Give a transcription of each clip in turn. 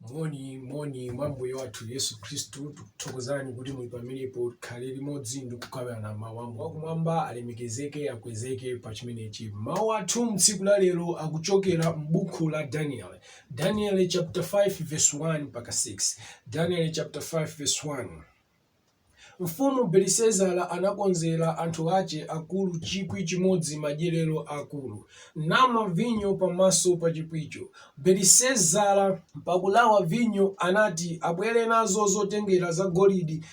moni moni mwa mbuye wathu yesu khristu tikuthokozani kuti muli pamenepo tikhale limodzi ndi kukambirana mawu a mulungu wakumwamba alemekezeke akwezeke pa chimenechi mawu athu mtsiku la lero akuchokera m'buku la daniel daniel chapter 5 verse 1 mpaka 6 daniel chapter 5 verse 1 Mfumu Belisazara anakonzera anthu ace akuru cikwi cimodzi madyerero akuru, namwa vinyo pamaso pa cikwico. Belisazara. pakulawa vinyo, anati, Abwere nazo zotengera zagolidi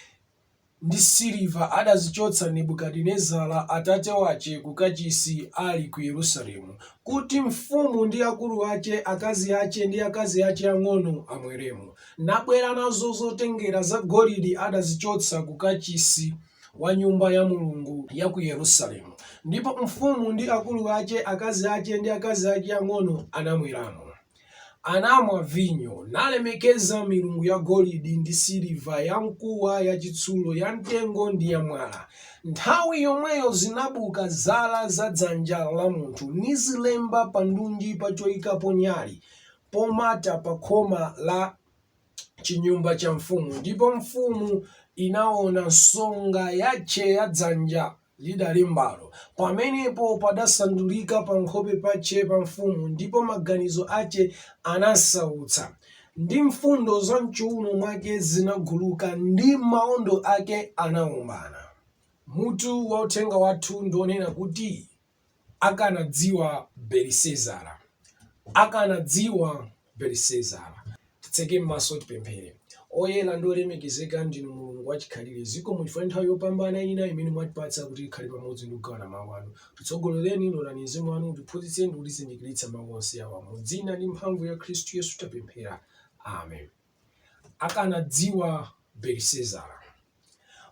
ndi siliva adazicotsa Nebukadinezara atate wace ku Kacisi ali ku Yerusalemu, kuti mfumu ndi akuru ace, akazi ace, ndi akazi ace ang'ono amweremo. nabwera nazo zotengera zagolidi adazichotsa ku Kachisi wa Nyumba ya Mulungu ya ku Yerusalemu, ndipo mfumu ndi akulu ace, akazi ace ndi akazi ace ang'ono, anamweramo. Anamwa vinyo, nalemekeza milungu yagolidi ndi siliva, yamkuwa, yacitsulo, yamtengo, ndi yamwala, nthawi yomweyo zinabuka zala za dzanja la munthu, nizilemba pandunji pa coikapo nyali, pomata pa khoma la cinyumba ca mfumu, ndipo mfumu inaona nsonga yace ya dzanja lidalembalo, pamenepo padasandulika pankhope pace pa mfumu, ndipo maganizo ace anamsautsa, ndi mfundo za m'cuuno mwake zinaguluka, ndi maondo ake anaombana. Mutu wa uthenga wathu ndi wonena kuti. akanadziwa Belisezara, akanadziwa Belisezara. Titseke m'maso, tipemphere. Oyera ndi olemekezeka ndinu Mulungu wachikhalire, zikomo chifukwa cha nthawi yopambana ina imene mwatipatsa kuti tikhale pamodzi ndi kugawana mawu anu. Titsogololeni, lolani Mzimu wanu utiphunzitse ndi kutizindikiritsa mawu onse awa. Mu dzina ndi mphamvu ya Khristu Yesu tapemphera. Amen. Akanadziwa Belisezara.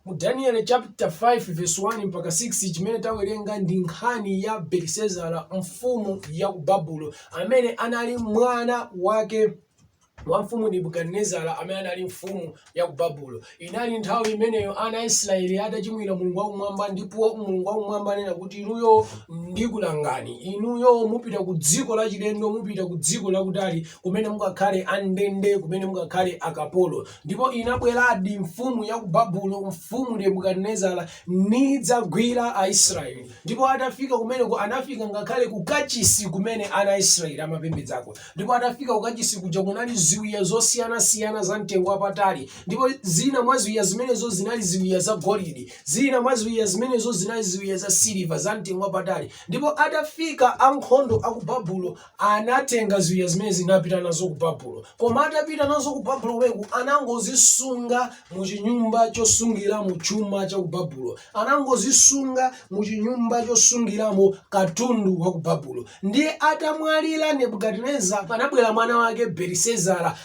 Mu Danieli chaputala 5 vesi 1 mpaka 6, chimene tawerenga ndi nkhani ya Belisazara, mfumu ya ku Babulo, amene anali mwana wake wa mfumu Nebukadinezara amene anali mfumu ya ku Babulo. Inali nthawi imeneyo ana a Israeli adachimwira Mulungu wakumwamba ndipo Mulungu wakumwamba ananena kuti inuyo ndikulangani. Inuyo mupita ku dziko lachilendo, mupita ku dziko lakutali kumene mukakhale andende, kumene mukakhale akapolo. Ndipo inabweradi mfumu ya ku Babulo, mfumu Nebukadinezara, nidzagwira Aisraele. Ndipo atafika kumeneko, anafika ngakhale ku Kachisi kumene ana a Israele amapembedzako. Ndipo atafika ku Kachisi kuja, kunali ziwiya zosiyanasiyana za mtengo wapatali. Ndipo zina mwa ziwiya zimenezo zinali ziwiya zagolidi, zina mwa ziwiya zimenezo zinali ziwiya zasiliva, za mtengo wapatali. Ndipo atafika ankhondo a ku Babulo, Anatenga ziwiya zimenezi napita nazo ku Babulo. Koma atapita nazo ku Babulo kumeneku anangozisunga mu chinyumba chosungiramo chuma cha ku Babulo. Anangozisunga mu chinyumba chosungiramo katundu wa ku Babulo. Ndiye atamwalira Nebukadineza, anabwera mwana wake Belisazara.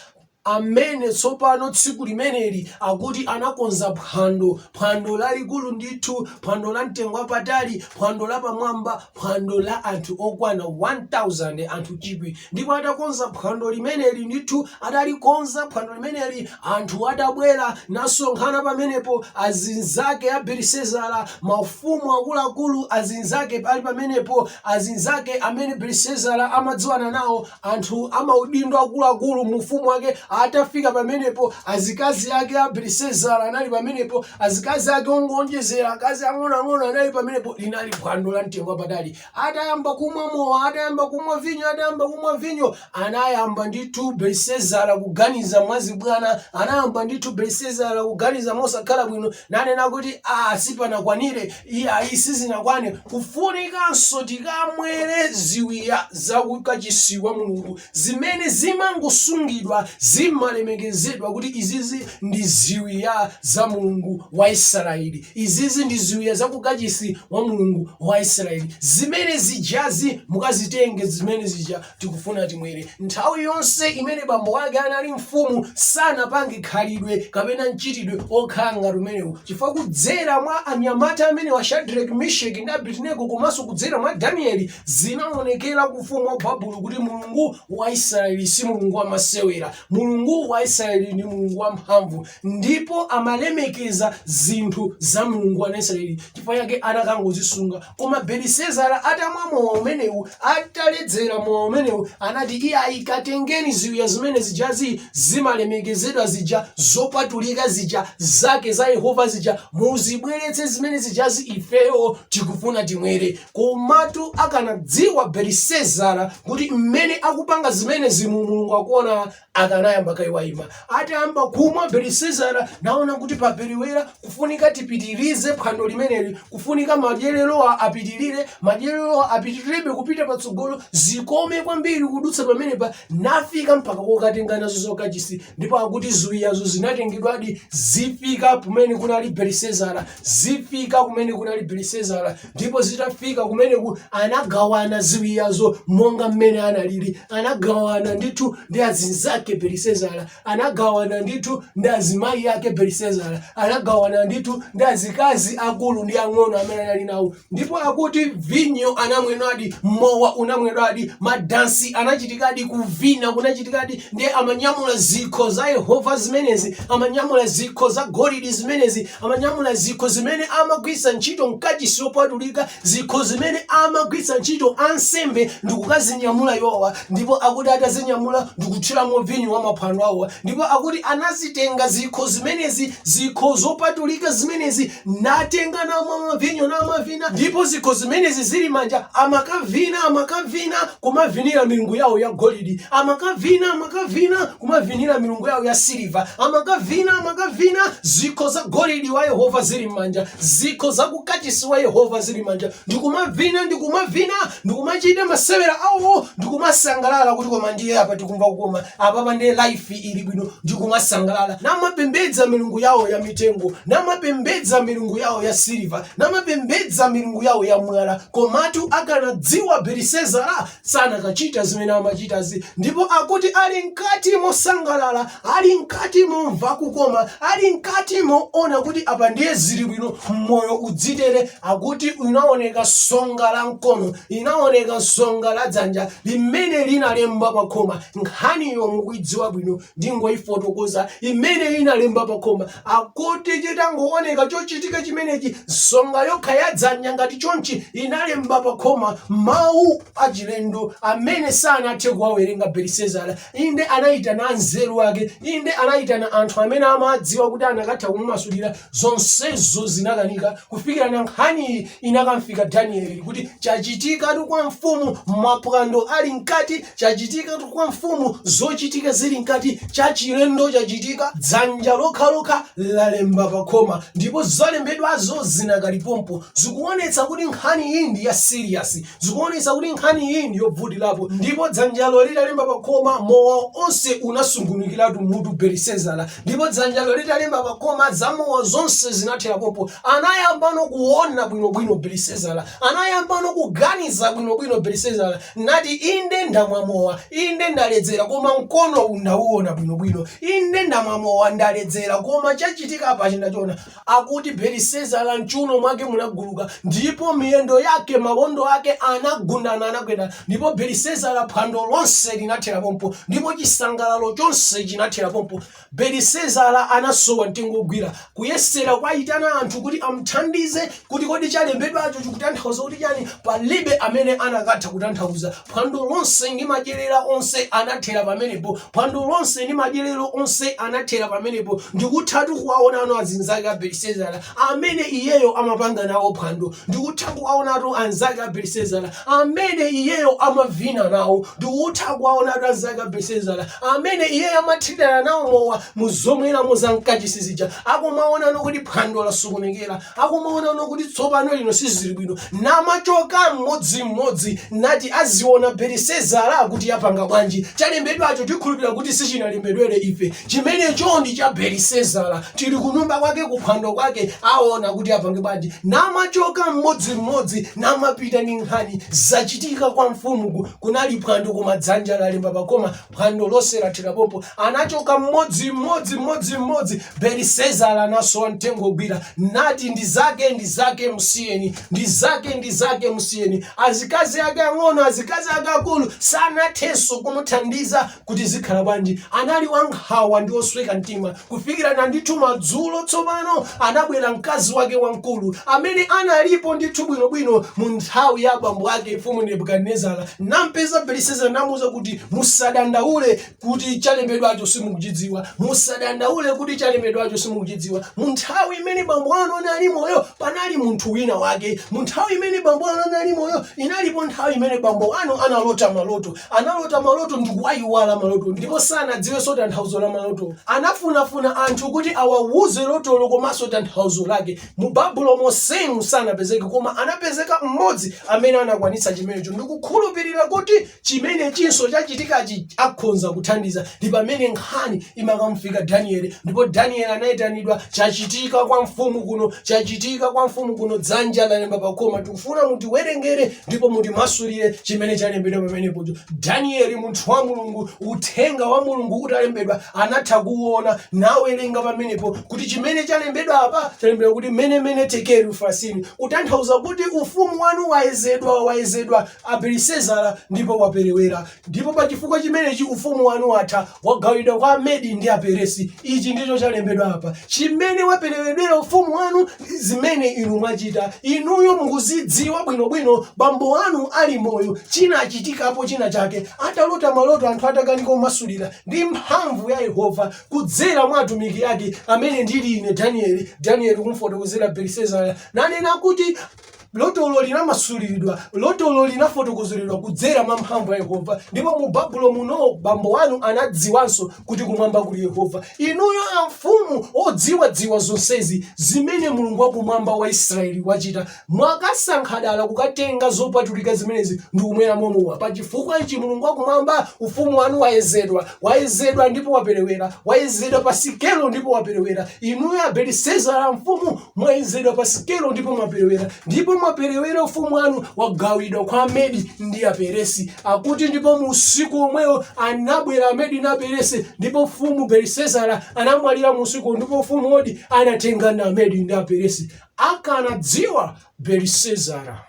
amene tsopano tsiku limeneli akuti anakonza phwando, phwando lalikulu ndithu, phwando la mtengo wapatali, phwando la pamwamba, phwando la anthu okwana 1,000, anthu chikwi. Ndipo atakonza phwando limeneli ndithu, atalikonza phwando limeneli, anthu atabwera nasonkhana pamenepo, azinzake a Belisezara, mafumu akuluakulu azinzake ali pamenepo, azinzake amene Belisezara amadziwana nawo, Anthu amaudindo akuluakulu mu ufumu wake atafika pamenepo, azikazi ake a Belisazara anali pamenepo, azikazi ake ongowonjezera, akazi ang'onoang'ono anali pamenepo. Linali phwando la mtengo wapatali. Atayamba kumwa mowa, atayamba kumwa vinyo, atayamba kumwa vinyo, anayamba ndithu Belisazara kuganiza mwazibwana, anayamba ndithu Belisazara kuganiza mosakhala bwino, nanena kuti, Aa, sizinakwanire, Iyayi sizinakwane kufunikanso tikamwere ziwiya za ku kachisi wa Mulungu zimene zimangosungidwa zimalemekezedwa kuti izizi ndi ziwiya za Mulungu wa Israeli izizi ndi ziwiya za ku kachisi wa Mulungu wa Israeli zimene zijazi mukazitenge zimene zija Tikufuna timwere. Nthawi yonse imene bambo ake anali mfumu sanapange khalidwe kapena mchitidwe okhala ngati umenewu chifukwa kudzera mwa anyamata amenewa Shadrack, Misheck ndi Abednego komanso kudzera mwa Daniel zinaonekera ku ufumu wa Babulo kuti Mulungu wa Israel si Mulungu wa masewera. Mulungu wa Israel ndi Mulungu wa mphamvu ndipo amalemekeza zinthu za Mulungu wa Israel chifukwa chake anakangozisunga. Koma Belisezara atamwa mowa umenewu, ataledzera mowa umenewu, anati, Iyayi, katengeni ziwiya zimene zijazi zimalemekezedwa zija, zopatulika zija, zake za Yehova zija, muzibweretse zimene zijazi, ifeyo tikufuna timwere. Komatu akanadziwa Belisezara kuti mmene akupanga zimenezimu Mulungu akuona akanayamba kaye waima. Atayamba kumwa, Belisazara naona kuti paperewera, kufunika tipitirize phwando limeneli, kufunika madyererowa apitirire, madyererowa apitirirebe kupita patsogolo, zikome kwambiri kudutsa pamenepa, nafika mpaka kokatenga nazo zokachisi. Ndipo akuti ziwiyazo zinatengedwadi zifika kumene kunali Belisazara, zifika kumene kunali Belisazara. ndipo zitafika kumeneku anagawana ziwiyazo monga mmene analili anagawana ndithu ndi azinzake belisezara anagawana ndithu ndi azimayi ake belisezara anagawana ndithu ndi azikazi akulu ndi ang'ono amene anali nawo ndipo akuti vinyo anamwedwadi mowa unamwedwadi madansi anachitikadi kuvina kunachitikadi ndiye amanyamula zikho za yehova zimenezi amanyamula zikho za golidi zimenezi amanyamula zikho zimene amagwiritsa ntchito mkachisi yopatulika zikho zimene amagwiritsa ntchito ansembe ndikukazinyamula iwowa ndipo akuti atazinyamula ndikuthiramo vinyo wa maphwando awowa ndipo akuti anazitenga zikho zimenezi zikho zopatulika zimenezi natenga namweramo vinyo namavina ndipo zikho zimenezi zili manja amakavina amakavina kumavinira milungu yawo ya golidi amakavina amakavina kumavinira milungu yawo ya siliva amakavina amakavina zikho za golidi wa yehova zili m'manja zikho za kukachisi wa yehova zili m'manja ndikumavina ndikumavina ndikumachita masewera awo ndikumasangalala kuti koma ndiye apa tikumva kukoma apapa ndiye life ili bwino ndikumasangalala namapembedza milungu yawo ya mitengo namapembedza milungu yawo ya siliva namapembedza milungu yawo ya mwala Komatu akanadziwa Belisezara sanakachita zimene amachitazi, ndipo akuti ali mkati mosangalala, ali mkati momva kukoma, ali mkati moona kuti apa ndiye zili bwino, moyo uzitere, akuti inaoneka nsonga la mkono, inaoneka nsonga la dzanja limene linalemba pa khoma. Nkhaniyo mukuidziwa bwino, ndingoifotokoza limene linalemba pa khoma. Akuti chitangooneka chochitika chimenechi, nsonga yokha ya dzanja ngati chonchi inalemba pakhoma mawu achilendo amene sanathe kuwawerenga Belisazara. Inde, anaitana anzeru ake. Inde, anaitana anthu amene amadziwa kuti anakatha kumumasulira. Zonsezo zinakanika, kufikirana nkhaniyi inakamfika Danieli kuti chachitikatu kwa mfumu, maphwando ali mkati. Chachitikatu kwa mfumu zochitika zili mkati, chachilendo chachitika, dzanja lokhalokha lalemba pakhoma ndipo zalembedwazo zinakali pompo. Zikuonetsa kuti nkhaniyi ndi ya serious. Zikuonetsa kuti nkhaniyi ndi yovutirapo ndipo dzanjalo litalemba pakhoma, mowa onse unasungunukiratu m'mutu Belisezara ndipo dzanjalo litalemba pakhoma, zamowa zonse zinathera pompo. Anayambano kuona bwinobwino Belisezara. Anayambano kuganiza bwinobwino Belisezara. Nati, Inde ndamwa mowa, inde ndaledzera, koma mkono uwu ndauona bwinobwino. Inde ndamwa mowa, ndaledzera, koma chachitika apachi ndachiona. Akuti Belisezara m'chuuno mwake munaguluka, ndipo miyendo yake, mawondo ake anagundana, anagwedana. Ndipo Belisezara, phwando lonse linathera pompo, ndipo chisangalalo chonse chinathera pompo. Belisezara anasowa mtengo wogwira, kuyesera kuwayitana anthu kuti amuthandize kuti kodi chalembedwacho chikutanthauza kuti chani. Palibe amene anakatha kutanthauza. Phwando lonse ndi madyerero onse anathera pamenepo. Phwando lonse ndi madyerero onse anathera pamenepo. Ndikuthatu kuwaonatu azinzake a Belisezara amene iyeyo amapanga nawo phwando. Ndikutha kuwaonatu anzake a Belisezara amene iyeyo amavina nawo ndikutha kuwaona akazi ake a Belisezara amene iyeyo amathirira nawo mowa mu zomweramo za mkachisi zija akumaonano kuti phwando lasokonekera akumaonano kuti tsopano lino sizili bwino namachoka mmodzimmodzi nati aziona belisezara kuti yapanga bwanji chalembedwacho tikhulupirira kuti sichinalembedwere ife chimenecho ndi cha belisezara tili kunyumba kwake kuphwando kwake aona kuti apange bwanji namachoka mmodzimmodzi namapita ndi nkhani zachitika kwa mfumu ku- kunali phwando koma dzanja lalemba pakhoma phwando lonse lathera pompo anachoka mmodzimmodzi mmodzimmodzi belisezara anasowa mtengo ogwira nati ndi zake ndi zake msiyeni ndi zake ndi zake msiyeni azikazi ake ang'ono azikazi ake akulu sanathenso kumuthandiza kuti zikhala bwanji anali wankhawa ndi osweka mtima kufikira na ndithu madzulo tsopano anabwera mkazi wake wamkulu amene analipo ndithu bwinobwino mu nthawi ya abambo ake mfumu nebukadinezara nampeza belisezara namuuza kuti musadandaule kuti chalembedwacho simukuchidziwa musadandaule kuti chalembedwacho simukuchidziwa mu nthawi imene bambo anu anali moyo panali munthu wina wake mu nthawi imene bambo anu anali moyo inalipo nthawi imene bambo anu analota maloto Analota maloto ndikuwayiwala maloto ndipo sanadziwenso tanthauzo la malotowo. Anafunafuna anthu kuti awawuze lotolo komanso tanthauzo lake. Mu Babulo monsemu sanapezeke koma anapezeka m'modzi amene anakwanitsa chimenecho. Ndikukhulupirira kuti chimenechinso chachitikachi akhonza kuthandiza. Ndi pamene nkhani imakamufika Danieli ndipo Danieli anayitanidwa. Chachitika kwa mfumu kuno, chachitika kwa mfumu kuno, dzanja lalemba pakhoma. Tikufuna mutiwerengere. ndipo mutimasulire chimene chalembedwa pamenepocho danieli munthu wa mulungu uthenga wa mulungu utalembedwa anatha kuwona nawerenga pamenepo kuti chimene chalembedwa apa chalembedwa kuti mene mene tekeli ufasini kutanthauza kuti ufumu wanu wayezedwa wayezedwa a belisezara ndipo waperewera Ndipo pa chifukwa chimenechi ufumu wanu watha, wagawidwa kwa Amedi ndi Aperesi. Ichi ndicho chalembedwa apa, chimene waperewedwera ufumu wanu ndi zimene inu mwachita. Inuyo mukuzidziwa bwinobwino, bambo anu ali moyo, chinachitikapo china chake, atalota maloto anthu atakanika kumasulira, ndi mphamvu ya Yehova, kudzera mwa atumiki ake, amene ndili ine Danieli. Danieli kumfotokozera Belisazara, nanena kuti. lotolo linamasuliridwa lotolo linafotokozeredwa kudzera mwa mphamvu ya yehova ndipo mu babulo muno bambo wanu anadziwanso kuti kumwamba kuli yehova inuyo amfumu odziwadziwa zonsezi zimene mulungu wakumwamba wa israeli wachita mwakasankha dala kukatenga zopatulika zimenezi ndi kumwera mowa pa chifukwa ichi mulungu wakumwamba ufumu wanu wayezedwa wayezedwa ndipo waperewera wayezedwa pa sikelo ndipo waperewera inuyo abelisezara amfumu mwayezedwa pa sikelo ndipo mwaperewera ndipo mwaperewera ufumu wanu wagawidwa kwa amedi ndi aperesi akuti ndipo mu usiku omwewo anabwera amedi na aperesi ndipo mfumu belisezara anamwalira mu usiku ndipo ufumu wodi anatengana amedi ndi aperesi akanadziwa belisezara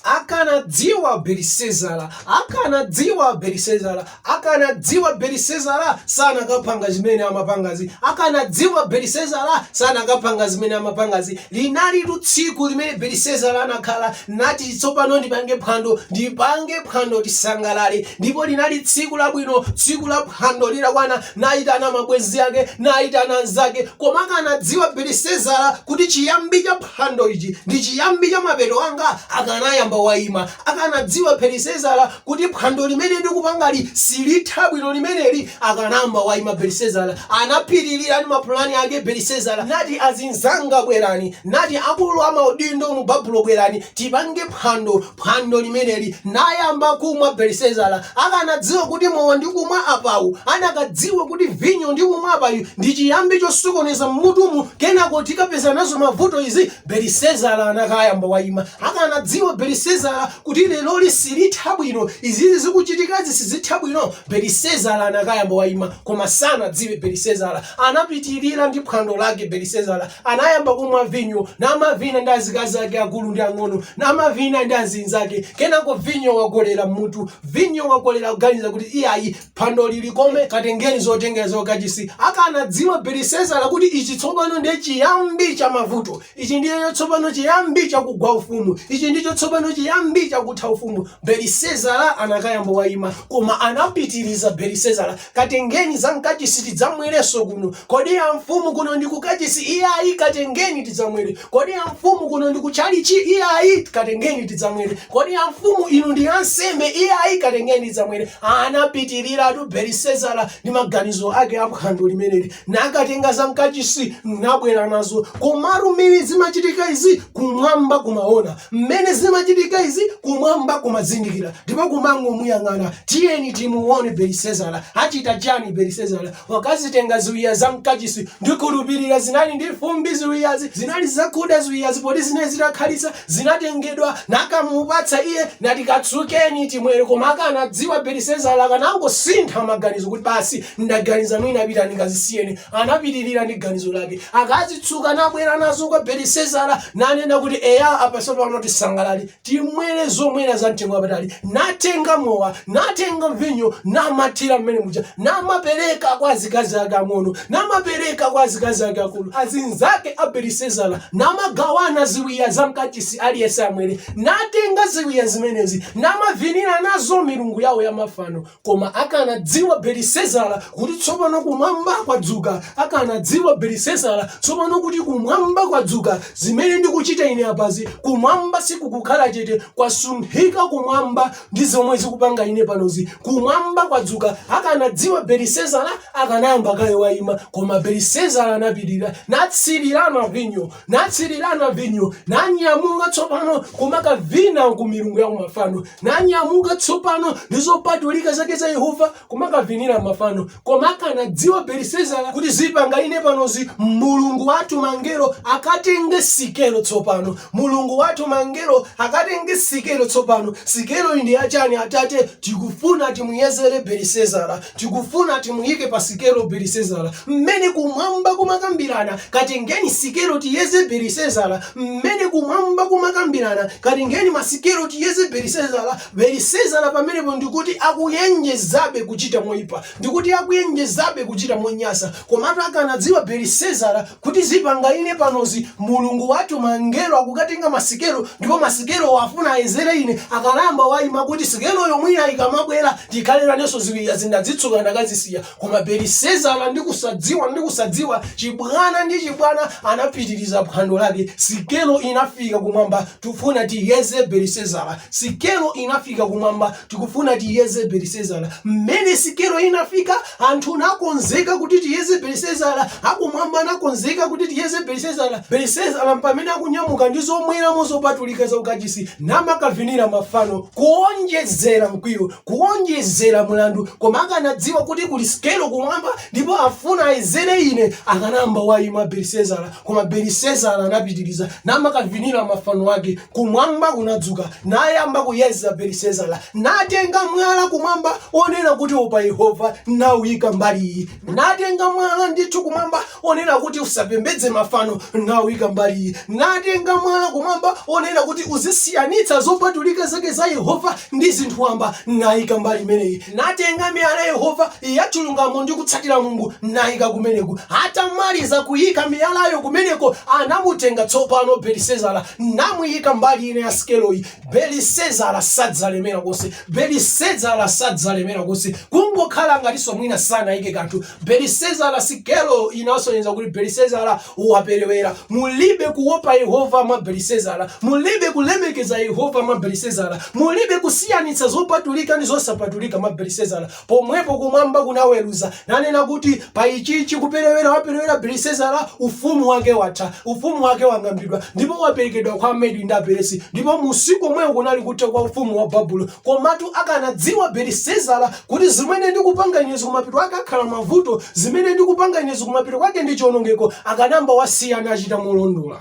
akanadziwa belisezara akanadziwa belisezara akanadziwa belisezara sanakapanga zimene amapangazi akanadziwa belisezara sanakapanga zimene amapangazi linalitu tsiku limene belisezara anakhala nati tsopano ndipange phwando ndipange phwando tisangalale ndipo linali tsiku labwino tsiku la phwando litakwana nayitana mabwenzi ake nayitana anzake koma akanadziwa belisezara kuti chiyambi cha phwando ichi ndi chiyambi cha mapeto anga akanayamba waima. Akanadziwa Belisezara kuti phwando limene ndikupangali silitha bwino limeneli, akanayamba waima Belisezara. Anapitirira ndi mapulani ake Belisezara nati, Azinzanga bwerani! Nati akulu a maudindo mu Babulo bwerani, tipange phwando phwando limeneli, nayamba kumwa Belisezara akanadziwa kuti mowa ndikumwa apawu anakadziwa kuti vinyo ndikumwa apayu ndi chiyambi chosokoneza mmutumu kenako tikapezana nazo mavuto izi Belisezara anakayamba wayima akanadziwa Belisezara kuti leroli silitha bwino izizi zikuchitikazi sizitha bwino Belisezara anakayamba wayima koma sanadziwe Belisezara anapitirira ndi phwando lake Belisezara Anayamba kumwa vinyo, namavina ndi azikazi ake akulu ndi ang'ono, namavina ndi azinzake. Kenako vinyo wakolera m'mutu, vinyo wakolera kuganiza kuti iyayi phwandoli likome katengeni zotengera za kukachisi. Akanadziwa Belisezara kuti ichi tsopano ndiye chiyambi cha mavuto. Ichi ndicho tsopano chiyambi cha kugwa ufumu. Ichi ndicho tsopano chiyambi cha kutha ufumu. Belisezara anakayamba waima, koma anapitiriza Belisezara. Katengeni za mkachisi tidzamwerenso kuno. Kodi amfumu kuno ndi kukachisi? Iyayi, katengeni tidzamwere. Kodi amfumu kuno ndi kutchalitchi? Iyayi, katengeni tidzamwere. Kodi amfumu inu ndi ansembe? Iyayi, katengeni tidzamwere. Anapitiliratu Belisezara ndi maganizo ake a phwando limeneli nakatenga za mkachisi nabwera nazo. Komatu mmene zimachitika izi kumwamba kumaona. Mmene zimachitika izi kumwamba kumazindikira ndipo kumangomuyang'ana. Tiyeni timuwone Belisezara achita chiyani. Belisezara wakazitenga ziwiya za mkachisi, ndikhulupirira zinali ndi fumbi ziwiyazi, zinali zakuda ziwiyazi poti zinali zitakhalitsa, zinatengedwa nakamupatsa iye nati katsukeni timwere koma akanadziwa Belisezara akanangosintha maganizo kuti basi ndaganiza mwina apita nakazisiya anapitirira ndi ganizo lake akazitsuka nabwera nazo kwa belisezara nanena kuti eya apa tsopano tisangalale timwere zomwera za mtengo wapatali natenga mowa natenga vinyo namathira mmene muja namapereka kwa azikazi ake ang'ono namapereka kwa azikazi ake akulu azinzake a belisezara namagawana ziwiya za mkachisi aliyense amwere natenga ziwiya zimenezi namavinira nazo milungu yawo ya mafano koma akanadziwa belisezara kuti tsopano kumwamba kwadzuka akanadziwa belisezara tsopano kuti kumwamba kwadzuka zimene ndikuchita ine apazi kumwamba sikukukhala chete kwasunthika kumwamba ndi zomwe ndikupanga ine panozi kumwamba kwadzuka akanadziwa belisezara akanayamba kaye wayima koma belisezara anapirira natsirirana vinyo natsirirana vinyo, nanyamuka tsopano kumakavina ku milungu ya kumafano, nanyamuka tsopano ndi zopatulika zake za Yehova kumakavinira mafano. Koma akanadziwa Belisezara kuti zipanga ine panozi, Mulungu watuma angelo akatenge sikelo tsopano, Mulungu watuma angelo akatenge sikelo tsopano. Sikelo iyi ndi yachani, atate? Tikufuna timuyezere Belisezara. Tikufuna timuyike pa sikelo Belisezara, mmene Kumwamba kumakambirana, katengeni sikelo tiyeze Belisezara, mmene Kumwamba kumakambirana, katengeni masikelo tiyeze Belisezara, Belisezara pamenepo ndi kuti akuwonjezabe kuchita moyipa, ndi kuti akuwonjezabe kuchita monyasa, komatu akanadziwa Belisezara Kuti zipanga ine panozi mulungu watuma angelo akukatenga masikelo ndipo masikelowo afuna ayezere ine akanayamba waima kuti sikeloyo mwina ikamabwera tikhale nditatenganso ziwiyazi ndazitsuka ndakazisiya koma Belisezara ndi kusadziwa ndi kusadziwa chibwana ndi chibwana anapitiriza phwando lake sikelo inafika kumwamba tufuna tiyeze Belisezara sikelo inafika kumwamba tikufuna tiyeze Belisezara mmene sikelo inafika Anthu nakonzeka kuti tiyeze Belisezara, akumwamba anakonzeka kuti tiyeze Belisezara, Belisezara mpamene akunyamuka ndi zomweramo zopatulika za kukachisi, namakavinira mafano, kuonjezera mkwiyo, kuonjezera mlandu, koma akanadziwa kuti kuli sikelo kumwamba, ndipo afuna ayezere ine, akanamba waima Belisezara, koma Belisezara anapitiriza namakavinira mafano ake. Kumwamba kunadzuka, nayamba kuyeza Belisezara, natenga mwala kumwamba onena kuti opa Yehova, nauika mbali iyi, natenga mwala ndithu kumwamba onena kuti usapembedze mafano, nauika mbali iyi, natenga mwala kumwamba onena kuti uzisiyanitsa zopatulika zake za Yehova ndi zinthu wamba, naika mbali imeneyi, natenga miyala Yehova yachilungamo ndi kutsatira Mulungu, naika kumeneko. Atamaliza kuika miyalayo kumeneko, anamutenga tsopano Belisezara namuika mbali ina ya sikeloyi, Belisezara sanalemere konse, Belisezara sanalemere konse, kungokhala ngatinso mwina sanaike kanthu. Belisezara, sikelo inasonyeza kuti Belisezara waperewera. Mulibe kuopa Yehova mwa Belisezara, mulibe kulemekeza Yehova mwa Belisezara, mulibe kusiyanitsa zopatulika ndi zosapatulika mwa Belisezara. Pomwepo kumwamba kunaweruza, nanena kuti, Pa ichi ichi kuperewera waperewera Belisezara, ufumu wake watha, ufumu wake wang'ambidwa, ndipo waperekedwa kwa Amedi ndi Aperesi, ndipo mu usiku omwewo kunali kutha kwa ufumu wa Babulo. Komatu akanadziwa Belisezara kuti zimene ndikupanga inezi kumapeto kwake akhala mavuto, zimene ndikupanga inezi kumapeto kwake ndi chionongeko, akanamba wasiya nachita molondola.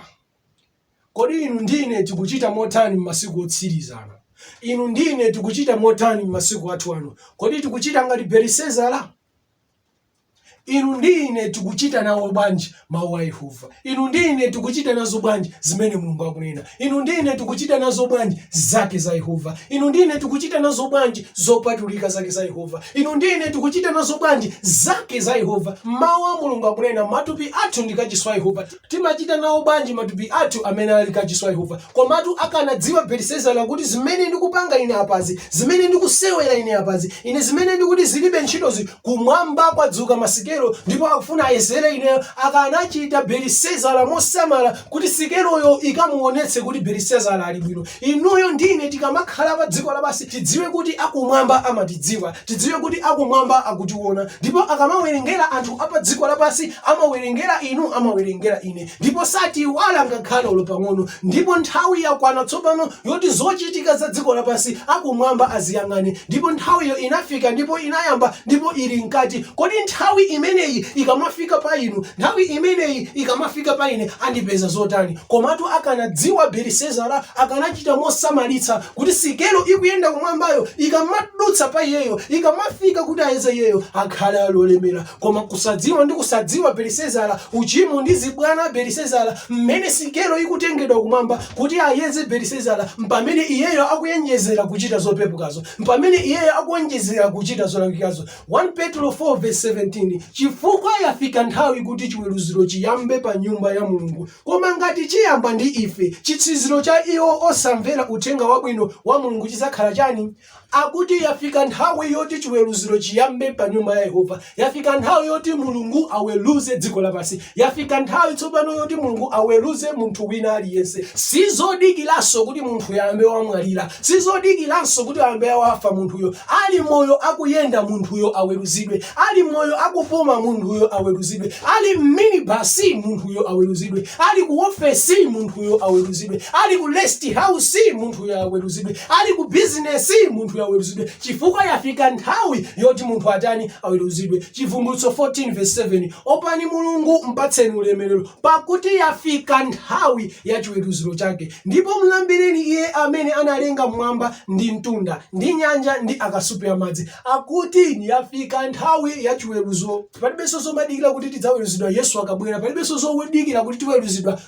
Kodi inu ndi ine tikuchita motani m'masiku otsiriza ano? Inu ndi ine tikuchita motani m'masiku athu ano? Kodi tikuchita ngati Belisezara? Inu ndi ine tikuchita nawo bwanji mawu a Yehova? Inu ndi ine tikuchita nazo bwanji zimene Mulungu akunena? Inu ndi ine tikuchita nazo bwanji zake za Yehova? Inu ndi ine tikuchita nazo bwanji zopatulika zake za Yehova? Inu ndi ine tikuchita nazo bwanji zake za Yehova? Mawu a Mulungu akunena matupi athu ndi kachisi wa Yehova. Timachita nawo bwanji matupi athu amene ali kachisi wa Yehova? Komatu akanadziwa Belisezara kuti zimene ndikupanga ine apazi, zimene ndikusewera ine apazi, ine zimene ndikuti zilibe ntchitozi, kumwamba kwadzuka masikelo ndipo akufuna ayezere ineyo, akanachita Belisezara mosamala kuti sikeloyo ikamuonetse kuti Belisezara ali bwino. Inuyo ndi ine tikamakhala padziko lapansi tidziwe kuti akumwamba amatidziwa. Tidziwe kuti akumwamba akutiona ndipo akamawerengera anthu apadziko lapansi amawerengera inu, amawerengera ine ndipo satiiwala ngakhale olo pang'ono ndipo nthawi yakwana tsopano yoti zochitika za dziko lapansi akumwamba aziyang'ane ndipo nthawiyo inafika ndipo inayamba ndipo ili mkati. Kodi nthawi imeneyi ikamafika pa inu, nthawi imeneyi ikamafika pa ine andipeza zotani? Komatu akanadziwa Belisezara akanachita mosamalitsa kuti sikelo ikuyenda kumwambayo ikamadutsa pa iyeyo ikamafika kuti iyeze iyeyo akhale ali olemera koma kusadziwa ndi kusadziwa belisezara uchimo ndi zibwana a belisezara mmene sikelo ikutengedwa kumwamba kuti ayeze belisezara mpamene iyeyo akuyenjezera kuchita zopepukazo mpamene iyeyo akuyenjezera kuchita zolakwikazo 1 petro 4 verse 17 chifukwa yafika nthawi kuti chiweruziro chiyambe pa nyumba ya mulungu Koma ngati chiyamba ndi ife, chitsiriziro cha iwo osamvera Uthenga Wabwino wa Mulungu chidzakhala chani? Akuti yafika nthawi yoti chiweruziro chiyambe pa nyumba ya Yehova. Yafika nthawi yoti Mulungu aweruze dziko lapansi. Yafika nthawi tsopano yoti Mulungu aweruze munthu wina aliyense. Sizodikiranso kuti munthuyo ayambe wamwalira. Sizodikiranso kuti ayambe wafa munthuyo. Ali moyo akuyenda munthuyo aweruzidwe. Ali moyo akupuma, munthuyo aweruzidwe. Ali m'minibasi, munthuyo aweruzidwe. Ali ku ofesi, munthuyo aweruzidwe. Ali ku rest house, munthuyo aweruzidwe. Ali ku bizinesi, munthuyo aweruzidwe, chifukwa yafika nthawi yoti munthu atani? Aweruzidwe. Chivumbulutso 14 verse 7 opani Mulungu, mpatseni ulemerero, pakuti yafika nthawi ya chiweruziro chake, ndipo mlambireni Iye amene analenga mmwamba ndi mtunda ndi nyanja ndi akasupe a madzi. Akuti yafika nthawi ya chiweruzo. Palibenso zomadikira kuti tidzaweruzidwa Yesu akabwera. Palibenso zodikira kuti tiweruzidwa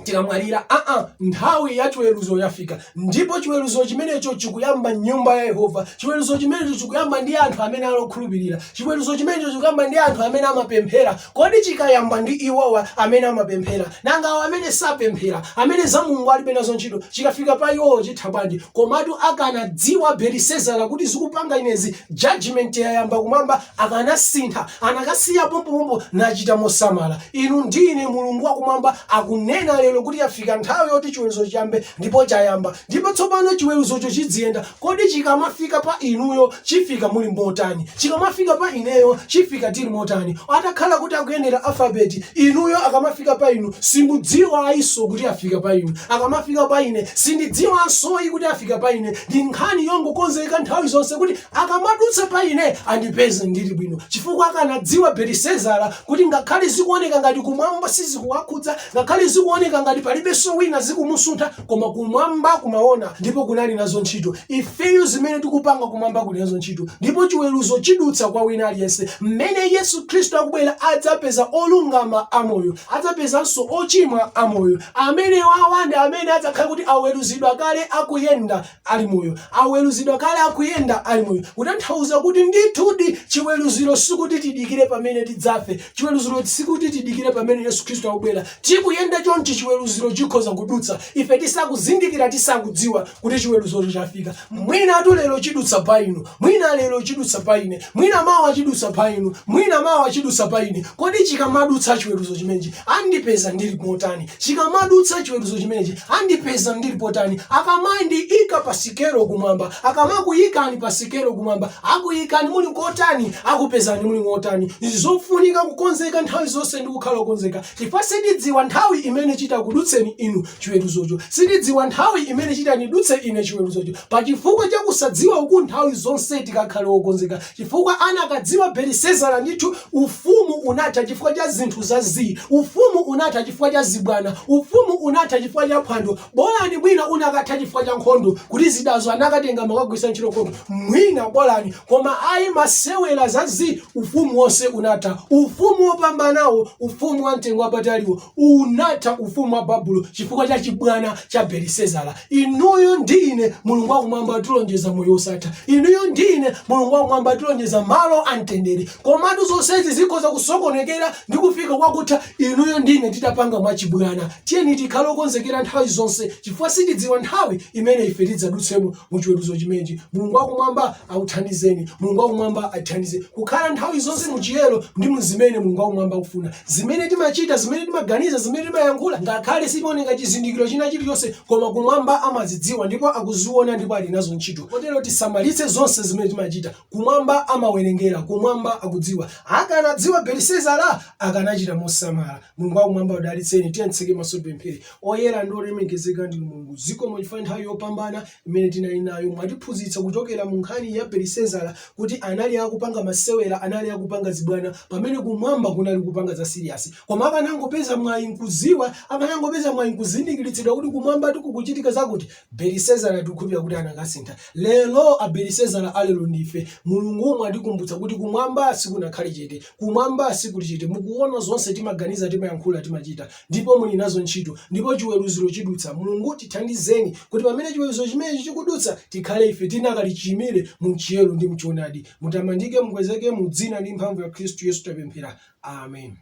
tikamwalira. Aa, nthawi ya chiweruzo yafika, ndipo chiweruzo chimenecho chikuyamba m'nyumba ya Yehova. Chiweruzo chimenecho chikuyamba ndi anthu amene ali okhulupirira. Chiweruzo chimenecho chikuyamba ndi anthu amene amapemphera Kodi chikayamba ndi iwowa amene amapemphera? Nanga awa amene sapemphera, amene za Mulungu alibe nazo ntchito, chikafika pa iwowo chitha bwanji? Komatu akanadziwa Belisezara kuti zikupanga inezi judgement yayamba kumwamba akanasintha. Akanasiya pompopompo nachita mosamala. Inu ndi ine Mulungu wa kumwamba akunena lero kuti yafika nthawi yoti chiweruzo chiyambe ndipo chayamba. Ndipo tsopano chiweruzocho chidziyenda Kodi chikamafika pa inuyo chifika muli motani? Chikamafika pa ineyo chifika tili motani? Atakhala kuti akuyendera alphabet, inuyo akamafika pa inu simudziwa ayinso kuti afika pa inu. Akamafika pa ine sindidziwanso yi kuti afika pa ine. Ndi nkhani yongokonzeka nthawi zonse kuti akamadutsa pa ine andipeze ndili bwino. Chifukwa akanadziwa Belisezara kuti ngakhale zikuoneka ngati kumwamba sizikuwakhudza, ngakhale zikuoneka ngati palibenso wina zikumusuntha, koma kumwamba kumaona ndipo kunali nazo ntchito ifeyo zimene tikupanga kumwamba kuli nazo ntchito ndipo chiweruzo chidutsa kwa wina aliyense mmene yesu khristu akubwera adzapeza olungama amoyo adzapezanso ochimwa amoyo amenewawa ndi amene adzakhale kuti aweruzidwa kale akuyenda ali moyo, aweruzidwa kale akuyenda ali moyo, kutanthauza kuti ndithudi chiweruziro sikuti tidikire pamene tidzafe, chiweruziro sikuti tidikire pamene Yesu Khristu akubwera, tikuyenda chonchi chiweruziro chikhoza kudutsa ife tisakuzindikira, tisakudziwa kuti chiweruzocho chafika, mwinatu lero chidutsa pa inu, mwina lero chidutsa pa ine, mwina mawa chidutsa pa inu, mwina mawa chidutsa pa ine, kodi chikamadutsa chiweruzo chimenechi Andipeza ndili wotani? Chikamadutsa chiweruzo chimenechi, andipeza ndili potani? Akamandiika pa sikelo kumwamba, akamakuikani pa sikelo kumwamba, akuikani muli kotani? Akupezani muli wotani? Nzofunika kukonzeka nthawi zonse ndi kukhala okonzeka chifukwa sitidziwa nthawi imene chitakudutseni inu chiweruzocho. Sitidziwa nthawi imene chitandidutse ine chiweruzocho. Pa chifukwa cha kusadziwa uku nthawi zonse tikakhale wokonzeka. Chifukwa anakadziwa Belisezara, ndithu ufumu unatha chifukwa cha zinthu za zii, ufumu unatha chifukwa cha zibwana, ufumu unatha chifukwa cha phwando, bolani mwina unakatha chifukwa cha nkhondo, kuti zidazo anakatenga, amakagwiritsa ntchito nkhondo, mwina bolani, koma ayi masewera za zii, ufumu wonse unatha, ufumu wopambanawo, ufumu wamtengo wapataliwo, Unatha ufumu wa Babulo chifukwa cha chibwana cha Belisezara. Inuyo ndi ine Mulungu wakumwamba atilonjeza moyo wosatha. Inuyo ndi ine Mulungu wakumwamba atilonjeza malo amtendere. Komatu zonsezi zikhoza kusokonekera ndi kufika kwakutha inuyo ndi ine titapanga mwachibwana. Tiyeni tikhale okonzekera nthawi zonse chifukwa sitidziwa nthawi imene ife tidzadutsemo. mu chiweruzo chimenechi mulungu wakumwamba akuthandizeni mulungu wakumwamba athandizeni kukhala nthawi zonse mu chiyero ndi mu zimene mulungu wakumwamba akufuna zimene timachita zimene timaganiza zimene timayankhula ngakhale sikuoneka chizindikiro china chilichonse koma kumwamba amazidziwa ndipo akuziona ndipo ali nazo ntchito kotero tisamalitse zonse zimene timachita kumwamba amawerengera kumwamba akudziwa akanadziwa belisezara akanachita mosamala mulungu wakumwamba akudalitseni tiyeni titseke maso tipemphere Oyera ndi olemekezeka ndinu Mulungu, zikomo chifukwa cha nthawi yopambana imene tinali nayo. Mwatiphunzitsa kuchokera mu nkhani ya Belisezara kuti anali akupanga masewera, anali akupanga zibwana pamene kumwamba kunali kupanga za serious. Koma akanangopeza mwayi nkudziwa, akanangopeza mwayi nkuzindikilitsidwa kuti kumwambatu kukuchitika zakuti, Belisezara tikukhulupilira kuti anakasintha. Lero a Belisezara a lero ndife. Mulungu mwatikumbutsa kuti kumwamba sikunakhale chete, kumwamba sikuli chete, mukuona zonse timaganiza, timayankhula, timachita. ndipo muli nazo ntchito, ndipo chiweruziro chidutsa. Mulungu, tithandizeni kuti pamene chiweruziro chimenechi chikudutsa, tikhale ife tinakali chiyimire mu chiyero ndi mu choonadi. Mutamandike, mukwezeke mu dzina ndi mphamvu ya Khristu Yesu tapemphera. Amen.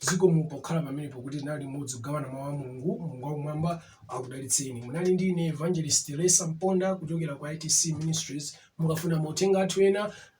zikomo pokhala pamenepo kuti tinali limodzi kugawana mawu a mulungu mulungu wakumwamba akudalitseni munali ndi ine evangelist teresa mponda kuchokera ku itc ministries mukafuna mauthenga athu ena